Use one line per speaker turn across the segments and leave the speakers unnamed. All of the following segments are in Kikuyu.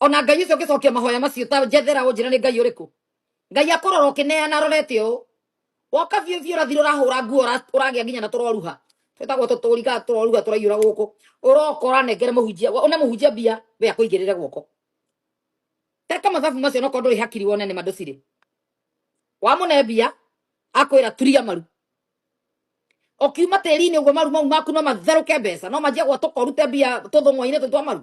ona ngai ũcio ũngĩcokia mahoya macio ta njethera ũnjĩra nĩ ngai ũrĩkũ ngai akũrora ũkĩneana arorete ũũ woka biũ biũ ũrathira ũrahũra nguo ũra- ũragĩa nginya na tũroruha twĩtagwo tũtũriga tũroruha tũraiyũra gũkũ ũroka ũranengere mũhunjia wa- one mũhunjia mbia we akũigĩrĩre guoko teka mathabu macio no kondũ hakiri wone nĩ mandũcirĩ wamũne mbia akwĩra turia maru ũkiuma tĩri-inĩ ũguo maru mau maku no matherũke mbeca no manjia gwatũka ũrute mbia tũthũng'wa-inĩ tũtwa maru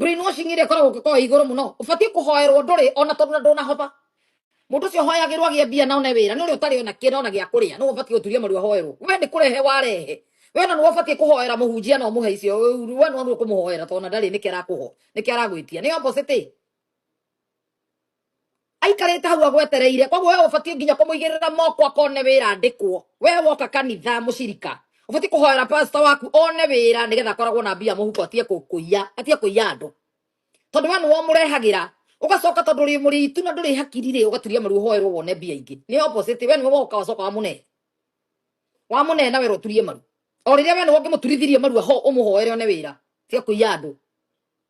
brainwashing ĩrĩa ĩkoragwo ũngĩkorwo ĩ igũrũ mũno ũbatiĩ kũhoerwo ndũrĩ ona tondũ na ndũnahotha mũndũ ũcio ũhoyagĩrwo agĩe mbia na one wĩra nĩ ũrĩa ũtarĩ ona kĩna ona gĩa kũrĩa nĩwe ũbatiĩ gũturia maru ahoerwo we nĩ kũrehe warehe we na nĩwe ũbatiĩ kũhoera mũhunjia na ũmũhe icio we nĩwe nĩwe ũkũmũhoera tondũ ona ndarĩ nĩkĩ arakũho nĩkĩ aragwĩtia nĩ opposite aikarĩte hau agwetereire koguo we ũbatiĩ nginya kũmũigĩrĩra moko akone wĩra andĩkwo we woka kanitha mũcirika ũbatiĩ kũhoera pastor waku one wĩra nĩgetha akoragwo na mbia mũhuko atige kũ- kũiya atige kũiya andũ tondũ we nĩwe ũmũrehagĩra ũgacoka tondũ ũrĩ mũrĩitu na ndũrĩ hakiri rĩ ũgaturia maru ũhoerwo wone mbia ingĩ nĩ opposite we nĩwe woka wacoka wamũnehe wamũnehe na wĩra ũturie maru o rĩrĩa we nĩwe ũngĩmũturithirie maru aho ũmũhoere one wĩra tiga kũiya andũ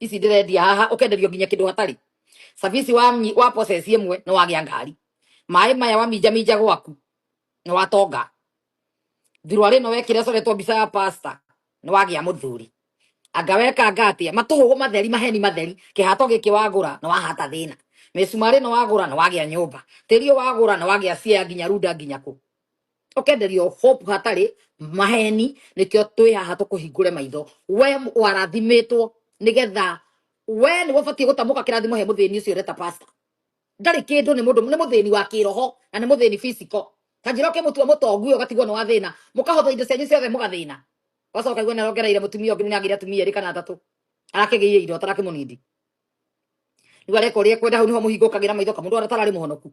ici ndirendia haha ukenderio nginya kindu hatari service wa mnyi- wa process imwe ni wagia ngari maĩ maya waminja minja gwaku ni watonga thirwa rino wekire coretwo mbica ya pasta ni wagia muthuri anga wekanga atia matuhugu matheri maheni matheri kihato giki wagura na wahata thina misumari no wagura na wagia nyumba tiri wagura na wagia cia nginya runda nginya ku tukenderio hope hatari maheni nikio twi haha tukuhingure maitho we m- warathimitwo nigetha we ni wabatie gutamuka kirathimo he muthini ucio ureta pastor ndari kindu ni mundu ni muthini wa kiroho na ni muthini physical ta njira ke mutua mutongu ugatigwo ni wa thina mukahotha indo cianyu ciothe mugathina wacoka igwe narongereire mutumia ungi ni agire atumia eri kana atatu arakigiie indo atarakimunindi riu areka uria ekwenda hau niho muhingukagira maitho kamundu aratara ari muhonoku